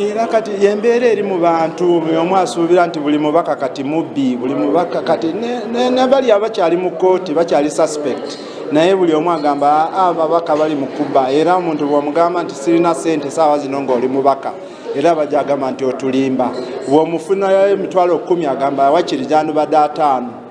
Era kati embeera eri mu bantu, buri omwe asuubira nti buri mubaka kati mubbi, buri mubaka kati nabari abakyari mu kooti bakyari suspect naye buri omwe agamba aa ababaka bari mu kubba era omuntu bwomugamba nti sirina sente saawa zino ngu ori mubaka era bagyagamba nti oturimba, bwomufunayo emitwaro kumi agamba wakiri gyandibade ataano.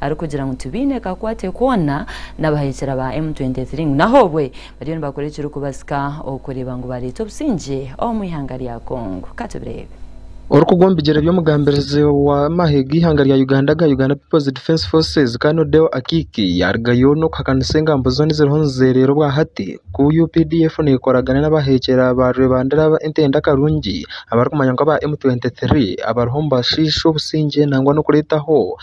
arikugira ngu tibaine kakwate koona n'abahaikira ba M23 ngu n'ahobwe bariyo nibakora ekirikubasika okureeba ngu bareeta obusingye omu ihanga rya Congo. Ka tubireebe. Orikugwa omu bigyere by'omugambirizi w'amahe g'eihanga rya Uganda aga Uganda People's Defence Forces, Kano Odeo Akiiki yarugayo n'okuhakanisa engambo zoona eziriho nizeereera obwa hati ku updf neekoragana n'abahaikira ba rwebandera ba Entende Akarungi abarikumanywa nk'aba M23 abariho nibashiisha obusingye nangwa n'okureetaho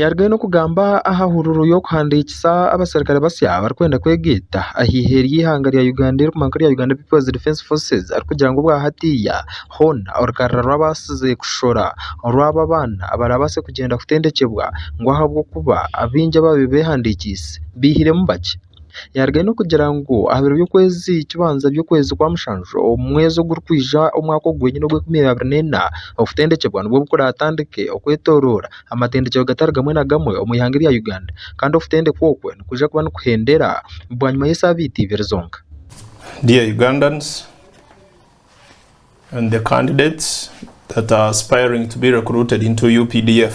Yarugayo n'okugamba aha hururu y'okuhandiikisa abaserukare basya abarikwenda kwegaita aha eihe ry'eihanga rya Uganda eririkumanywa nka erya Uganda People's Defence Forces arikugira ngu obwa hatiiya hoona orukarara rw'abaatsize kushora orw'aba abaana baraabaase kugyenda kutendekyebwa ngu ahabw'okuba abaingi abaabaire beehandiikiise baihiremu bakye. Yaarugayo n'okugira ngu aha biro by'okwezi kubanza by'okwezi kwa mushanju omu mwezi ogurikwija omwaka ogu gwenyine ogw'enkumi abiri n'ena, okutendekyebwa nibwo kuraatandike okwetooroora amatendekyero gatari gamwe na gamwe omu ihanga erya Uganda. Kandi okutendekwa okwo nikwija kuba nikuhendera bwanyima y'esaabiiti ibiri zonka. Dear Ugandans and the candidates that are aspiring to be recruited into updf.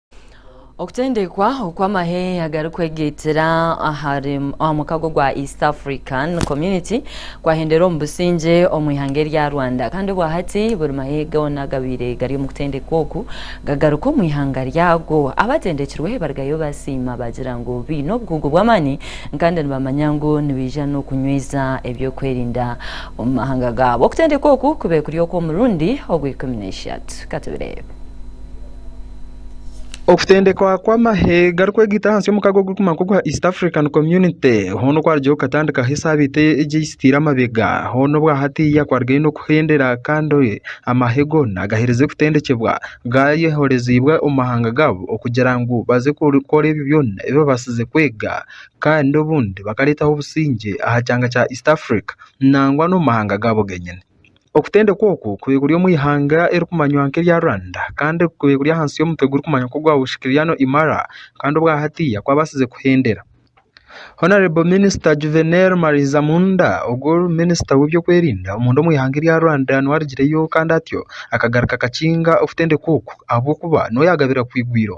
Okutendekwa oku amahe agarikwegaitira aha mukago gwa East African Community kwahendera omu busingye omu ihanga erya Rwanda kandi obwahati buri mahe goona agabaire gari omu kutendekwa oku gagaruka omu ihanga ryago. Abatendekirwe barugayo basiima baagira ngu baine obukugu bw'amaani kandi nibamanya ngu nibaija n'okunyweeza ebyokwerinda omu mahanga gaabo. Okutendekwa oku kubaire kuri okw'omurundi ogw'ikumi n'eishatu. Katubireebe. Okutendekwa kw'amahe garikwegita ahansi y'omukago ogurikumanywa nk'ogwa East African Community hoona okwarugireyo okatandikaho esaabiiti egi eizitiire amabega hoona obwa hatiiya kwarugayo n'okuhendera kandi amahe goona gaheerize kutendekyebwa gaayehoreziibwe omu mahanga gaabo okugira ngu baze kukora ebyo byona ebi baabaasize kwega kandi obundi bakareetaho obusingye aha kyanga kya East Africa nangwa n'omu mahanga gaabo geenyini. Okutendekwa oku kuri kuri omu ihanga erikumanywa nka erya Rwanda kandi kuri kuri ahansi y'omutwe guri kumanywa nka ogwa Washikiriano Imara kandi obwa hatiiya kwabaasize kuhendera. Hon Minisita Juvenal Mariza Munda ogwo Minisita w'ebyokwerinda omunda omu ihanga erya Rwanda niwe arigireyo kandi atyo akagaruka akakinga okutendekwa oku ahabw'okuba niwe yagabira kugwa igwiro.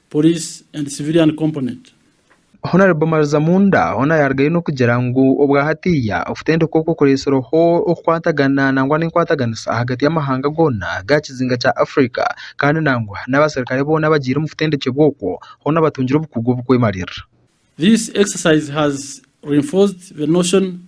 Police and Civilian Component. Honourable Marizamunda hoona yarugayo n'okugira ngu obwa hatiiya okutendeka okwo kureetsireho okukwatagana nangwa n'enkwataganisa ahagati y'amahanga goona g'aha kizinga kya Africa kandi nangwa n'abaserikare boona abagiire omu kutendekyebwa okwo hoona batungire obukugu obukwemarira. This exercise has reinforced the notion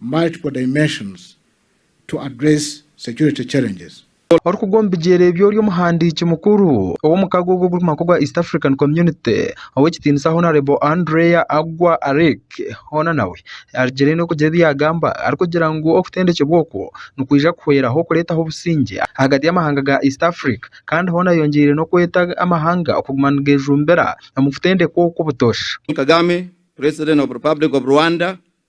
multiple dimensions to address security challenges. Orikugwa omu bigyere by'ori omuhandiiki mukuru ow'omukago ogu ogurikumanywa nk'ogwa East African Community ow'ekitiinisa Honarebo Andrea Agua Aric. Hoona nawe arugire n'okugira ebi yaagamba arikugira ngu okutendekyebwa okwo nikwija kuhweraho kureetaho obusingye ahagati y'amahanga ga East Africa kandi hoona ayongyeire n'okweta amahanga okuguma nigeejumbira omu kutendekwa okwo butoosha. Paul Kagame, President of Republic of Rwanda,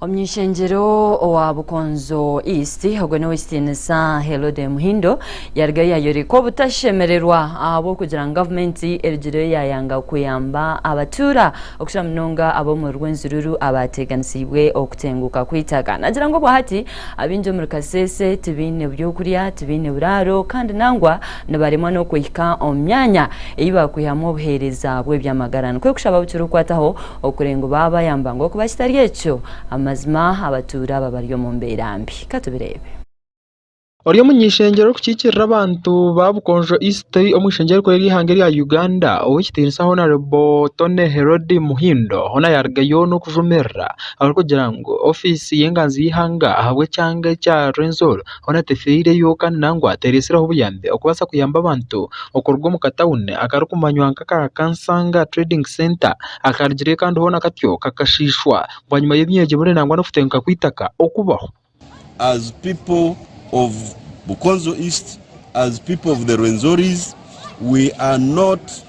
Omuny'ishengyero owa Bukonzo East ogwo n'Ow'ekitiinisa Herode Muhindo yarugayo yayoreka obutashemererwa ahabw'okugira ngu gavumenti erugireyo yaayanga kuyamba abatuura okukira munonga ab'omuri Rwenzururu abaateeganisiibwe okutenguuka kw'eitaka. Naagira ngu obwahati abaingi omuri Kasese tibaine by'okurya, tibaine buraaro kandi nangwa nibaremwa n'okuhika omu myanya ei baakwihamu obuheereza bw'eby'amagara. Nikwo kushaba bukira okukwataho Okurenga obu baaba bayamba ngu okuba kitari ekyo, amazima abatuura aba bari omu mbeera mbi. Ka tubireebe. Ori omuny'eishengyero orikukiikirira abantu ba Bukonjo East omu ishengyero rikuru ery'eihanga erya Uganda, ow'ekitiinisa Honarebo Tony Herodi Muhindo hoona yaarugayo n'okujumirira abarikugira ngu ofiisi y'enganzi y'eihanga ahabw'ekyanga ekya Rwenzori, Hoona tefeireyo kandi nangwa teeretsireho buyambi okubaasa kuyamba abantu okuruga omu katawuni akarikumanywa nk'aka Kansanga Trading Centre akarugireyo kandi hoona katyo kakashiishwa bwanyima y'ebinyeregi bune nangwa n'okutenguka kw'eitaka okubaho.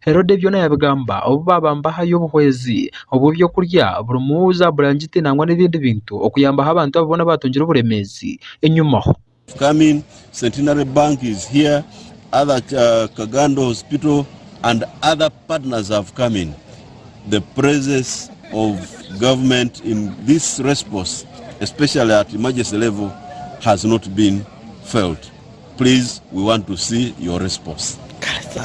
Herode byona yabigamba obu baaba nibahayo obuhwezi obw'eby'okurya burimu zaaburangiti nangwa n'ebindi bintu okuyambaho abantu abo boona abaatungire oburemeezi enyima. Please we want to see your response.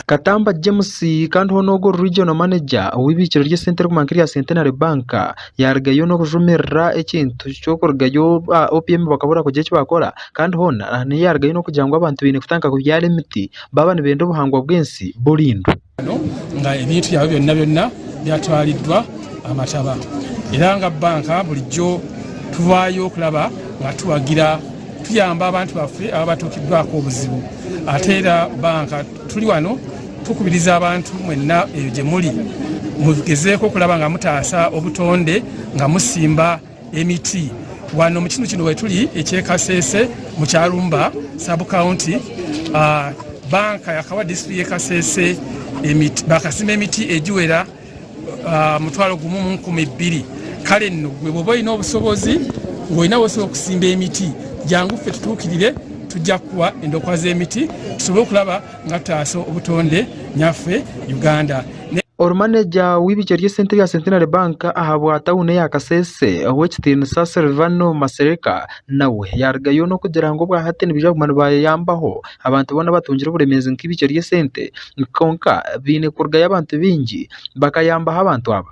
Katamba James kandi hoona ogwo ori Regional Manager ow'eibiikiro ry'esente erikubangwa nk'erya Centenary Bank yaarugayo n'obujumirira ekintu ky'okurugayo ba OPM bakabura kugira eki baakora kandi hoona aha n'eyaarugayo n'okugira ngu abantu baine kutandika kubyara emiti baaba nibenda obuhangwa bw'ensi burindwe. nga ebintu byabo byona byona byatwariddwa aha mataba era nga banka bulijjo tuvaayo okulaba nga tuwagira tuyamba abantu baffe aba batuukiddwako obuzibu ate era banka tuli wano tukubiriza abantu mwenna eyo gye muli mugezeeko okulaba nga mutaasa obutonde nga musimba Emiti, Waana omu kinuukinu Weturi, eky'e Kasese mu Kyarumba Sub County, banka ya Kawa District y'e Kasese emiti bakasima emiti egiwera mutwaro gumwe mu nkumi bbiri. Kare nno gwe bwoba oine obusobozi ngu oine ahu osobola kusimba emiti, gyangu ffe tutuukirire tujja kukuha endokwa z'emiti tusobole okuraba Nkataasa obutonde nyaffe Uganda. Ori maneja w'eibikye ry'esente rya Centenary Bank ahabwa tawuni eya Kasese ow'ekitiinisa Sylvano Masereka nawe yarugayo n'okugira ngu obwa hati nibaija kuguma nibayeyambaho abantu boona abatungire oburemeezi nk'eibikye ry'esente kwonka baine kurugayo abantu baingi bakayambaho abantu aba.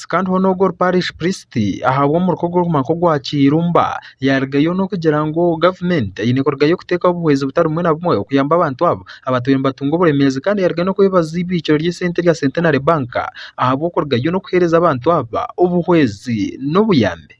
kandi hoona ogu ori parishi purisiti ahabwa omuruka ogurikuguma nk'ogwa Kirumba yaarugayo n'okugira ngu gavumenti eine kurugayo kuteekaho obuhwezi butari bumwe na bumwe okuyamba abantu abo abatwire nibatunga oburemeezi kandi yaarugayo n'okwebaza eibikiro ry'esente erya Centenary Bank ahabw'okurugayo n'okuheereza abantu aba obuhwezi n'obuyambi.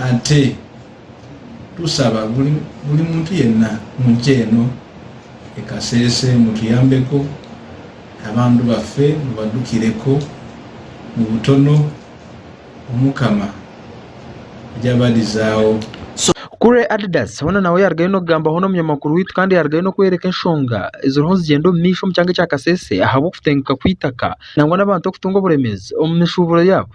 Ate tushaba buri muntu yena omu nki eno e Kasese mutuyambeko abantu bafe mubadukireko mu butono Omukama ryabarizaho. Kure Adidas hoona nawe yarugayo nokugamba hoona omunyamakuru waitu kandi yarugayo nokworeka enshonga eziriho nizigyenda omu maisho omu kyanga ekya Kasese ahabw'okutenguka kw'eitaka nangwa n'abantu okutunga oburemeezi omu mishuuburo yaabo.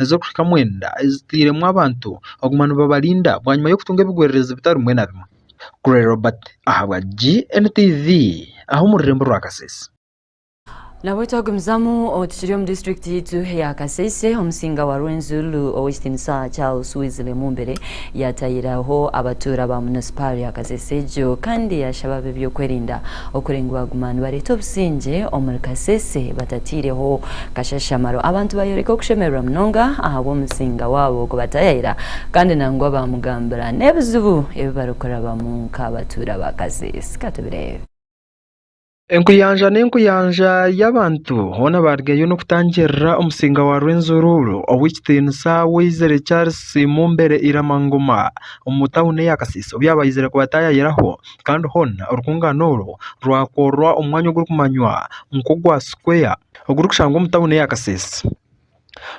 ezirikuhika mwenda ezitairemu abantu okuguma nibabarinda bwanyima y'okutunga ebigwererezi bitari bimwe na bimwe. Gray Robert ahabwa GNTV aha omu rurembo rwa Kasese. Nabwo twagumizamu tukiri omu disiturikiti yaitu eya Kasese, Omusinga wa Rwenzururu Ow'ekitinisa Charles Weasley Mumbere Yaatahiraho abatuura ba munisipaari ya Kasese egyo kandi yaashaba ab'eby'okwerinda okuri ngu baaguma nibareeta obusingye omuri Kasese batataireho kashashamaro. Abantu baayoreka okushemererwa munonga ahabw'omuzinga waabo ku bataayayira kandi nangwa baamugambira n'ebizibu ebi barikurabamu nk'abatuura ba Kasese. Ka tubireebe. Enkuyanja n'enkuyanja y'abantu boona baarugayo n'okutangirira Omusinga wa Rwenzururu ow'ekitinisa Weizere Charles Mumbere Irama Ngoma omu tauni eya Kasese obu yaabaizire kubataayaayiraho kandi hoona orukuungaana orwo rwakorwa omu mwanya ogurikumanywa nk'ogwa Square ogurikushangwa omu tauni eya Kasese.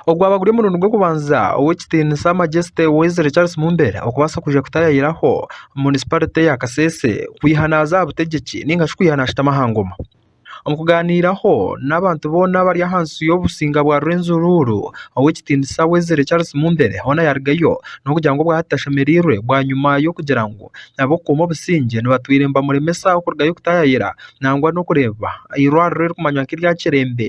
Ogwaba guri omurundi gw'okubanza ow'ekitiinisa Majeste Wesley Charles Mumbere okubaasa kwija kutaayaayiraho munisiparite ya Kasese kwiha naaza aha butegyeki nainga shi kwiha naashutama aha ngoma. Omu kugaaniiraho n'abantu boona abari ahansi y'obusinge bwa Rwenzururu, ow'ekitiinisa Wesley Charles Mumbere hoona yaarugayo n'okugira ngu obwahati tashemereirwe bwanyima y'okugira ngu ab'okukuuma obusingye nibatwire nibamuremesa kurugayo kutaayaayira nangwa n'okureeba eirwariro eririkumanywa nk'erya Kirembe.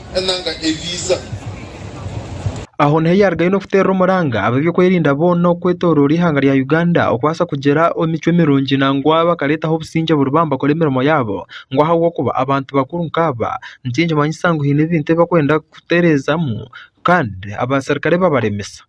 Aho niho yarugayo n'okuteerera omuranga ab'ebyokwerinda boona okwetooroora eihanga rya Uganda okubaasa kugira emicwe mirungi nangwa bakareetaho obusingye buri baha nibakora emirimo yaabo. Ngu ahabw'okuba abantu bakuru nkaaba nikimanyisa ngu haine ebintu ebi barikwenda kutereezamu kandi abaserukare babaremesa.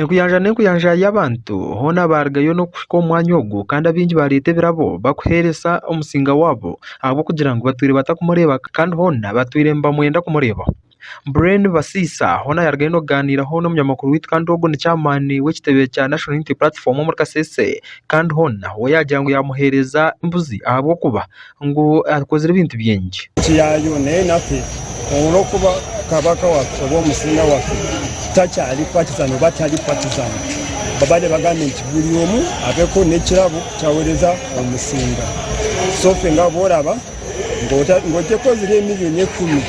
Enkuyanja n'enkuyanja y'abantu hoona baarugayo n'okuhika omu mwanya ogwo kandi abaingi baareeta ebirabo barikuheereza omusinga waabo ahabw'okugira ngu baatwire batarikumureeba kandi hoona baatwire nibamwenda kumureebaho. Brain Basiisa hoona yaarugayo n'okugaaniiraho n'omunyamakuru waitu kandi ogwo ni chairman w'ekitebe kya National Unity Platform omuri Kasese kandi hoona we yaagira ngu yaamuheereza embuzi ahabw'okuba ngu akozire ebintu bingi. Kyayo n'enaku olw'okuba kabaka wafe oba omusinga wafe takyali patizani oba tari patizani. Babare bagambe nti buri omwe abeho n'ekirabo ky'awereza omusinga. Sofe ngabo oraba ngu otekozire emiliyoni ekumi.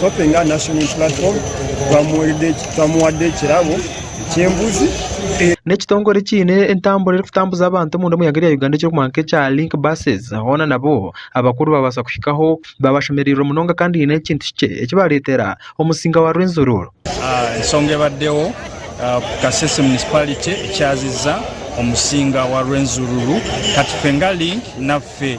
Hoping Our National Unity Platform twamuhaire twamuhaire ekirabo ky'embuzi. N'ekitongore ekiine entambura erikutambuza abantu omunda omu ihanga rya Uganda ekirikumanywa nk'ekya Link Buses hoona nabo abakuru babaasa kuhikaho baabashemereirwe munonga kandi haine ekintu kikye eki baareetera omusinga wa Rwenzururu. Ensonga ebaddeho ku Kasese Municipality ekyaziza omusinga wa Rwenzururu kati Fenga Link naffe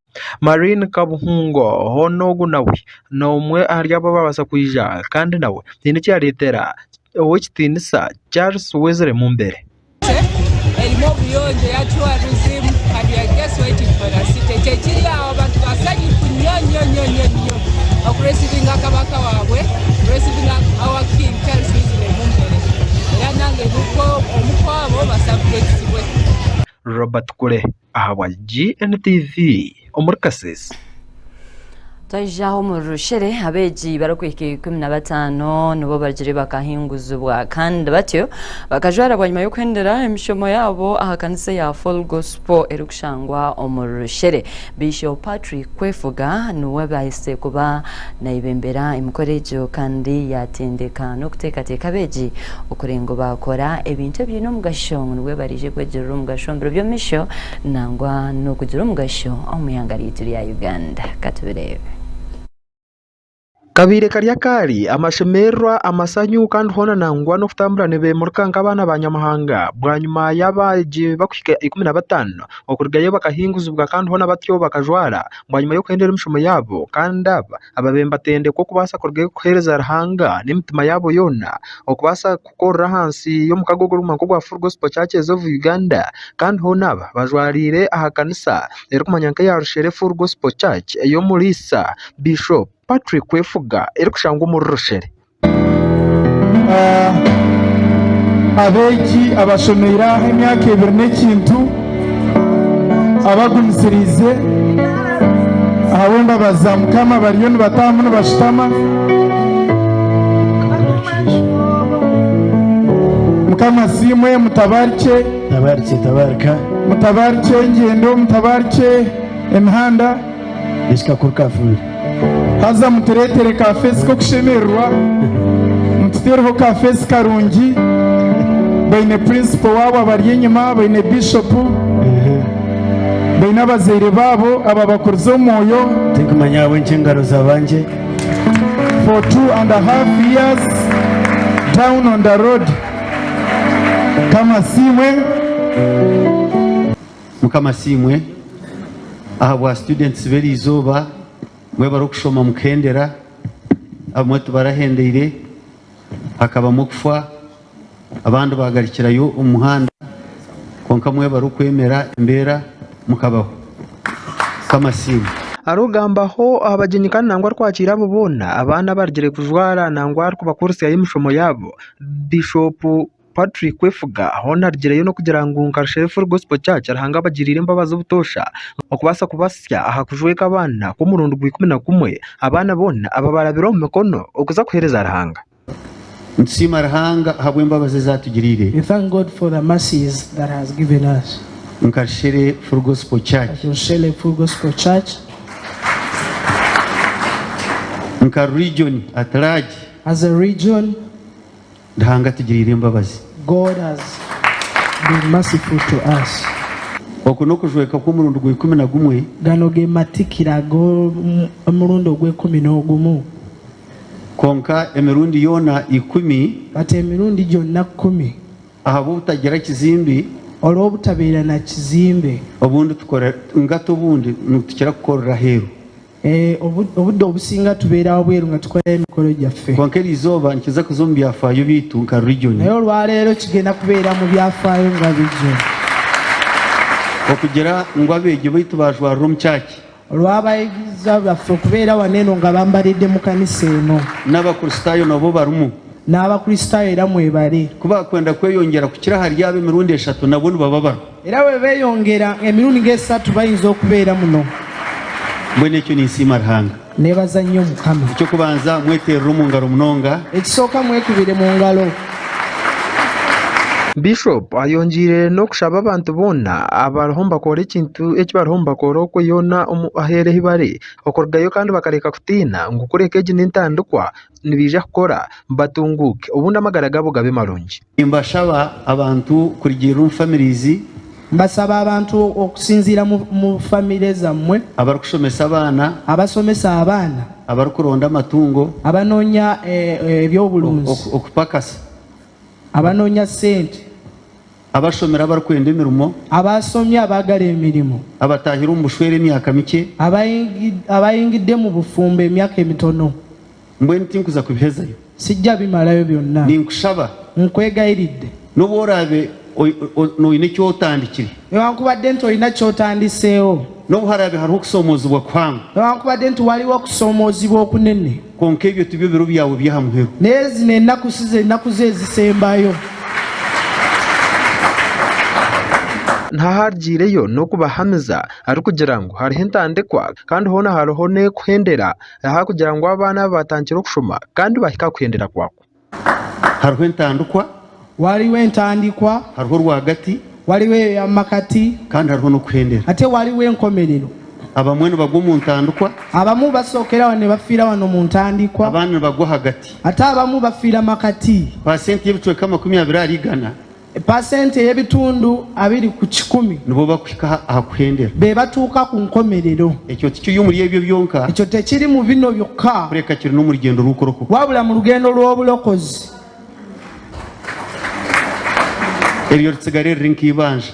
Maureen Kabuhungo hoona ogu nawe n'omwe ahari abo abaabaasa kwija kandi nawe haine eki yaareetera ow'ekitiinisa Charles Wesley Mumbere. Robert Kule. Ahabwa GNTV omuri Kasese. Twayija omu rushere, abeegi barikuhika ikumi na bataano nibo bagire bakahinguzibwa kandi batyo bakajwara bwanyima y'okuhendera emishomo yaabo aha kanisa eya Full Gospel erikushangwa omu rushere. Bishop Patrick Kwefuga niwe abahiise kuba nayebembera emikoro egyo kandi yatendeka n'okuteekateeka abeegi Okurenga obaakora ebintu ebiine omugasho ngu nibwo baraije kwegirira omugasho omu biro by'omumisho nangwa n'okugira omugasho omu ihanga ryaitu rya Uganda. Ka tubireebe. Kabaire kari akaari, amashemererwa, amasanyu kandi hoona nangwa n'okutambura nibeemurika nk'abaana ba Nyamuhanga. Bwanyima y'abaegi barikuhika ikumi na bataano okurugayo bakahinguzibwa kandi hoona batyo bakajwara bwanyima y'okuhendera emishomo yaabo kandi aba Ababe nibatendekwa okubaasa kurugayo kuheereza Ruhanga n'emitima yaabo yoona, okubaasa kukorera ahansi y'omukago ogurikuguma nk'ogwa Full Gospel Churches of Uganda. Kandi hoona aba bajwariire aha kanisa erikumanywa nk'eya Rushere Full Gospel Church ey'omuriisa Bishop Patrick Kwefuga erikushangwa omuri Rushere. Abeegi abashomeire aha emyaka ebiri n'ekintu abagumisiriize ahabw'embabazi za Mukama bariyo nibatahamu nibashutama. Mukama asiimwe, mutabaarikye, Tabarikye tabarika. mutabaarikye engyendo, mutabaarikye emihanda. Ekika kuri kafeeri. Haza mutureetere ka feesi k'okushemererwa, mututeereho ka feesi karungi. Baine purinsipo waabo abari enyima, baine biishopu, baine abazaire baabo ababakurize omu mwoyo. Tinkumanya ahabw'enki engaro zabangye. For two and a half years down on the road. Mukama asiimwe. Mukama asiimwe ahabwa students b'eri izooba mbwenu barikushoma mukuhendera, abamwe tibarahendeire hakabamu okufa abandi bagarukirayo omu muhanda kwonka mwe barikwemera embeera mukabaho. Mukama asiimwe. Arikugambaho aha bagyenyi kandi nangwa arikwakiira abo boona abaana abarugire kujwara nangwa arikubakurutsyayo emishomo yaabo Bishop. Patrick Kwefuga hoona arigireyo n'okugira ngu Nkarushara Full Gospel Church Ruhanga abagiriire embabazi obutoosha okubaasa kubatsya aha kujweka abaana kw'omurundi gwa ikumi na kumwe, abaana boona ababarabire omu mikono okuza kuheereza Ruhanga. Nitusiima Ruhanga ahabw'embabazi ezi atugiriire. We thank God for the mercies that has given us. Nkarushara Full Gospel Church. Nkarushara Full Gospel Church. Nka region at large. As a region. Ruhanga atugiriire embabazi. God has been merciful to us. Oku n'okujweka kw'omurundi gw'ikumi na gumwe. Gano ge matikira g'omurundi ogw'ikumi n'ogumu. Kwonka emirundi yoona ikumi. But emirundi gyonna kumi. Ahabw'obutagira kizimbi. Olw'obutabeera na kizimbe. Obundi tukora, nigata obundi nitukira kukorera aheeru. Obuda obusinga tubeera aho bweru nga tukora emikoro gyaffe. Kwonka eri izooba nikiza kuza omu byafaayo byaitu nka Region. Naye olwaleero kigenda kubeera mu byafaayo nga Region. Okugira ngu abeegi baitu baajwarira omu Church. Olw'abayigirizwa baffe okubeera wanu eno nga bambaridde mu kanisa eno. N'Abakristaayo nabo barimu. N'Abakristaayo era mwebare. Ku baakwenda kweyongyera kukira hariyaaba emirundi eshatu nabwo nibababara. Era baabaire beeyongera emirundi nk'esatu bainza okubeera muno. Mbwenu ekyo ninsiima Ruhanga. Neebaza nnyo Omukama. Eky'okubanza, mweteerere omu ngaro munonga. Ekisooka, mwekubire mu ngaro. Bishop ayongiire n'okushaba abantu boona abariho nibakoora ekintu eki bariho nibakoora okwo yoona omu aheeru ahi bari okurugayo kandi bakareka kutiina ngu kureka egi n'entandikwa nibaija kukora batunguuke obundi amagara gaabo gabe marungi. Nimbashaba abantu kurigirira omu famirizi. Mbasaba abantu okusinziira mu famire zamwe. Abarikushomesa abaana. Abasomesa abaana. Abarikuronda amatungo. Abanoonya eby'oburunzi. Okupakasa. Abanoonya sente. Abashomire abarikwenda emirimo. Abashomire abaagara emirimo. Abataahire omu bushwere emyaka mikye. Abaahingidde mu bufumbo emyaka emitono. Mbwenu tinkuza kubihezayo. Sijja bimarayo byonna. Ninkushaba. Nkwegayiridde. N'obu oraabe oine eki otandikire. Newankubadde nti oine eki otandiseeho. N'obu haraabe hariho okusoomoozibwa kuhango. Newankubadde nti waliwo okusoomoozibwa okunene. Kwonka ebyo tibyo biro byawe by'aha muheru. N'ezi n'enaku si ze naku zo ezisembayo. N'aha arugyireyo n'okubahamiza arikugira ngu hariho entandikwa, kandi hoona hariho n'ekuhendera. ahakugira ngu abaana abo batandikire okushoma kandi bahike aha kuhendera kwako. Hariho entandikwa. Wariwo entandikwa. Hariho rwagati. Wariwo eyo ya makati. Kandi hariho n'okuhendera. Ate wariwo enkomerero. Abamwe nibagwa omu ntandikwa. Abamwe basookera wanu nibafiira wanu omu ntandikwa. Abandi nibagwa ahagati. Ate abamwe bafiira makati. Paasenti y'ebicweka makumi abiri ahari igana Pasenti ey'ebitundu abiri ku kikumi. Nibo bakuhika aha kuhendera. Be batuuka ku nkomerero. Ekyo tikiri omuri ebyo byonka. Ekyo tekiri mu bino byokka. Kureka kiri n'omu rugyendo rw'okurokoka. Wabula mu rugendo rw'oburokozi. Eryo ritsigare riri nk'eibanja.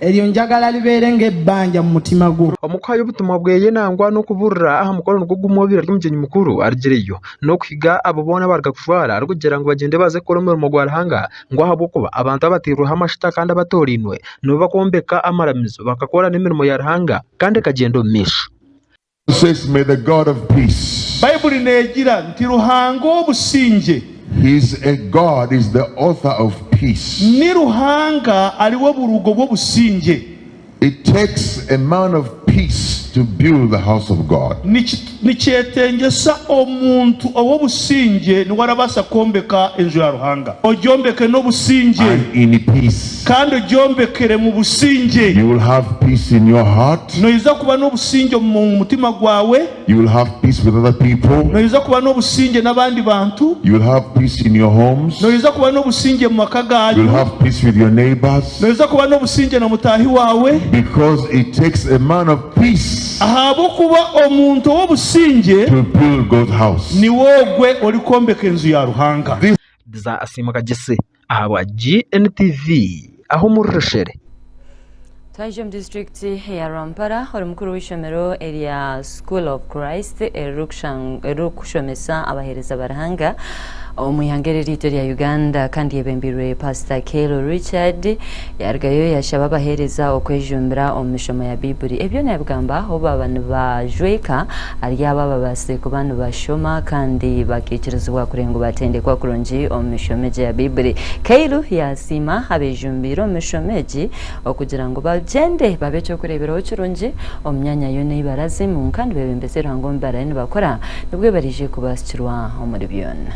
Eryo njagala libeere ng'ebbanja mu mutima gwo. Omu kuhayo obutumwa bweye nangwa n'okuburira aha mukoro nigwo gumwe obu ari omugyenyi mukuru arugireyo n'okuhiga abo boona abaruga kujwara arikugira ngu bagyende baze kukora omurimo gwa Ruhanga ngu ahabw'okuba abantu abatairweho amashuta kandi abatoorainwe nibo bakombeka amaramizo bakakora n'emirimo ya Ruhanga kandi ekagyenda omu maisho. God says may the God of peace. Baibuli negira nti Ruhanga ow'obusingye. He is a God is the author of peace. Ni Ruhanga ariwe oburugo bw'obusingye. It takes a man of peace to build the house of God. Niki nikyetengyesa omuntu ow'obusingye niwe arabaasa kwombeka enju ya Ruhanga. Ogyombeke n'obusingye And in peace kandi ogyombekere mu busingye. you will have peace in your heart. Noija kuba n'obusingye omu mutima gwawe. You will have peace with other people. Noija kuba n'obusingye n'abandi bantu. You will have peace in your homes. Noija kuba n'obusingye mu maka gaanyu. You will have peace with your neighbors. Noija kuba n'obusingye na mutaahi waawe. Because it takes a man of peace. Ahabw'okuba omuntu ow'obusingye. To build God's house. Niwe ogwe orikwombeka enju ya Ruhanga. This. Diza asiimuka Jesse. Ahabwa GNTV, Ahumuri Rushere. Twaijuka omu disiturikiti ya Rwampara ori mukuru w'eishomero erya School of Christ eriri kushomesa abaheereza ba Ruhanga omu ihanga eri ryaitu erya Uganda kandi eyebembeirwe Pasita Kelo Richard Yarugayo yashaba abaheereza okwejumbira omu mishomo ya Baibuli. Ebyo naabigamba ahu baaba nibajweka ahari abo ababaasize kuba nibashoma kandi bakaikirizibwa kureeba ngu baatendekwa kurungi omu mishomo egi eya Baibuli. Kyle yaasiima abeejumbiire omu mishomo egi okugira ngu bagyende babe eky'okureeberaho kirungi omu myanya yoona ei barazimu kandi beebembeze Ruhanga omu bi barabe nibakora nibwo baraije kubaasukirwa omuri byona.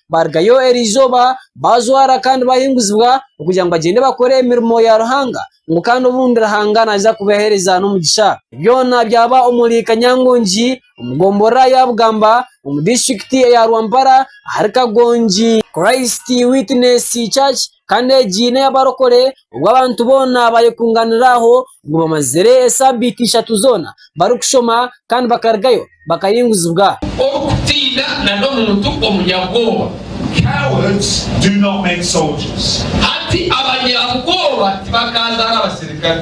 barugayo erizooba bajwara kandi bahinguzibwa kugira ngu bagyende bakore emirimo ya Ruhanga ngu kandi obundi Ruhanga naaza kubahereza n'omugisha. Byona byaba omuri Kanyangongi omu gombora ya Bugamba omu disiturikiti eya Rwampara ahari Kagongi Christ Witness Church kandi egi n'ey'abarokore obu abantu boona bayekunganira aho ngu bamazire esabiiti ishatu zoona barikushoma kandi bakarugayo bakayinguzibwa. Orikutiina na n'omuntu omunyabwoba hati abanyabwoba tibakaazaara abasirikare.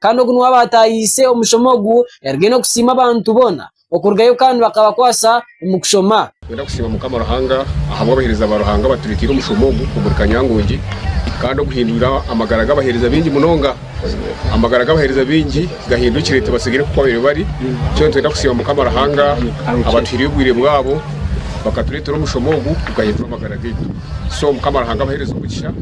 Kandi ogu nuwe abaatahiise omushomo ogu yaruga enu okusiima abantu boona okurugayo kandi bakabakwasa omu kushoma. Nikwenda kusiima Mukama Ruhanga ahabw'abaheereza ba Ruhanga abatureeteire omushomo ogu omuri Kanyangongi kandi oguhindwire amagara g'abaheereza baingi munonga. Amagara g'abaheereza baingi gahindukire tibatsigire nk'okubabaire bari. Twena nitwenda kusiima Mukama Ruhanga abatuhaire obwire bwabo bakatureetera omushomo ogu gukahindura amagara gaitu. So Mukama Ruhanga abaheereze omugisha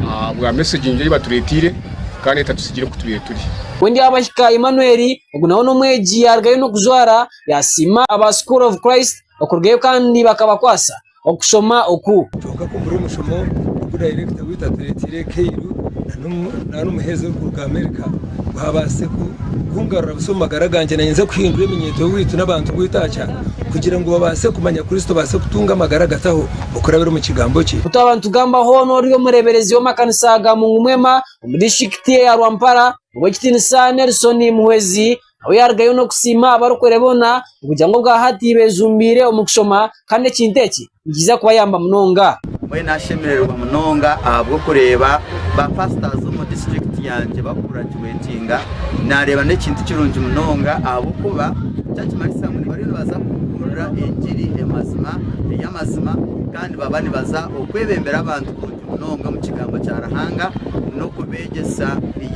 ahabwa mesegi nungi ei batureeteire. kandi etatusigire oku tubaire turi. Wendyabahika Emmanuel, ogu nawe n'omwegi yaarugayo n'okujwara, yaasiima aba School of Christ okurugayo kandi bakabakwasa okushoma oku. Kwonka ku buri omushomo ogu dayirekita waitu atureeteire nk'eiru nari omuheereza orikuruga Amerika ngu haabaase kungarura busa omu magara gangye naanye nze kuhindura eminyeeto yaitu n'abantu baitu aha kyaro kugira ngu babaase kumanya Kristo baase kutunga amagara agataho. okurabira omu kigambo kye. Ku twaba nitugamba hoona ori omureeberezi w'amakanisa ga Mungu Mwema omu disiturikiti eya Rwampara, Ow'ekitiinisa Nelson Muhwezi nawe yaarugayo n'okusiima abarokore boona okugira ngu obwa hati beejumbiire omu kushoma kandi ekintu eki nikiija kubayamba munonga. Mbwenu ashemererwa munonga ahabw'okureeba baapasita omu disiturikiti yangye bakurakira. Kwetinda naareeba n'ekintu kirungi munonga ahabw'okuba eki nikimanyisa ngu nibariyo nibaza kubuurira engiri emazima ey'amazima kandi nibaba nibaza okwebembera abantu kurungi munonga omu kigambo kya Ruhanga n'okubeegyesa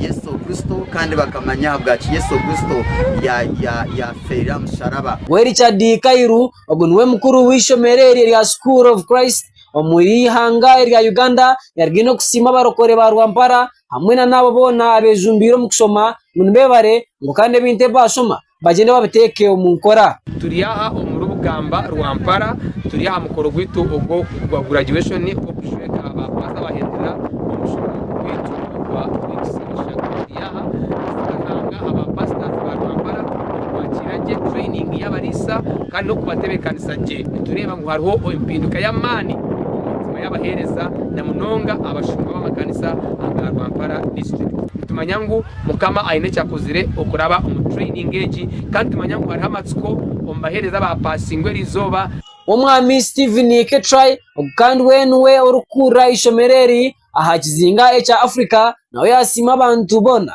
Yesu Kristo kandi bakamanya ahabwaki Yesu Kristo yaafeereire aha musharaba. We Richard Kairu, ogu niwe mukuru w'eishomero eryo erya School of Christ omuri eihanga erya Uganda, yaruga ine kusiima abarokore ba Rwampara, hamwe na n'abo boona abeejumbiire omu kushoma ngu nibeebare ngu kandi ebintu ebi baashoma bagyende babiteeke omu nkora. Turi aha omuri Bugamba Rwampara turi aha mukoro gwaitu ogwa graduation ogw'okushweka ba paasita abahendera omu mushomero gwaitu ogwa Links Bushaka. Turi aha kushanga aba pastors ba Rwampara okubaakiira gye, training y'abariisa kandi n'okubatebeekanisa gye. Nitureeba ngu hariho empinduka y'amaani. y'abaheereza na munonga abashumba b'amakanisa aga Rwampara District. Nitumanya ngu Mukama aine eki akozire okuraba omu training egi kandi nitumanya ngu hariho amatsiko omu baheereza abaapaasingwa eri izooba. Omwami Stephen Ketrai, ogu kandi we niwe orikukuurira eishomero eri aha kizinga ekya Africa, nawe yaasiima abantu boona.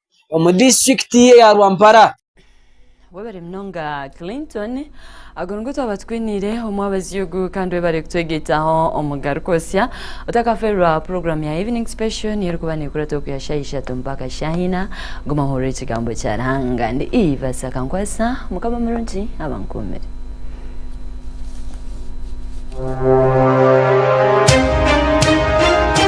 omu disiturikiti ye ya Rwampara. Webare munonga Clinton. Ago nigo twaba tukwiniire omu abazi ogu kandi webare kutwegyeitaho omugaruka osya. Otakaferwa puroguramu ya Evening Special niyo erikuba nekurata okuhya shaha ishatu mpaka shaha ina. Guma ohurire ekigambo kya Ruhanga. Ndi Eva Sakankwasa. Mukama murungi abankuumire.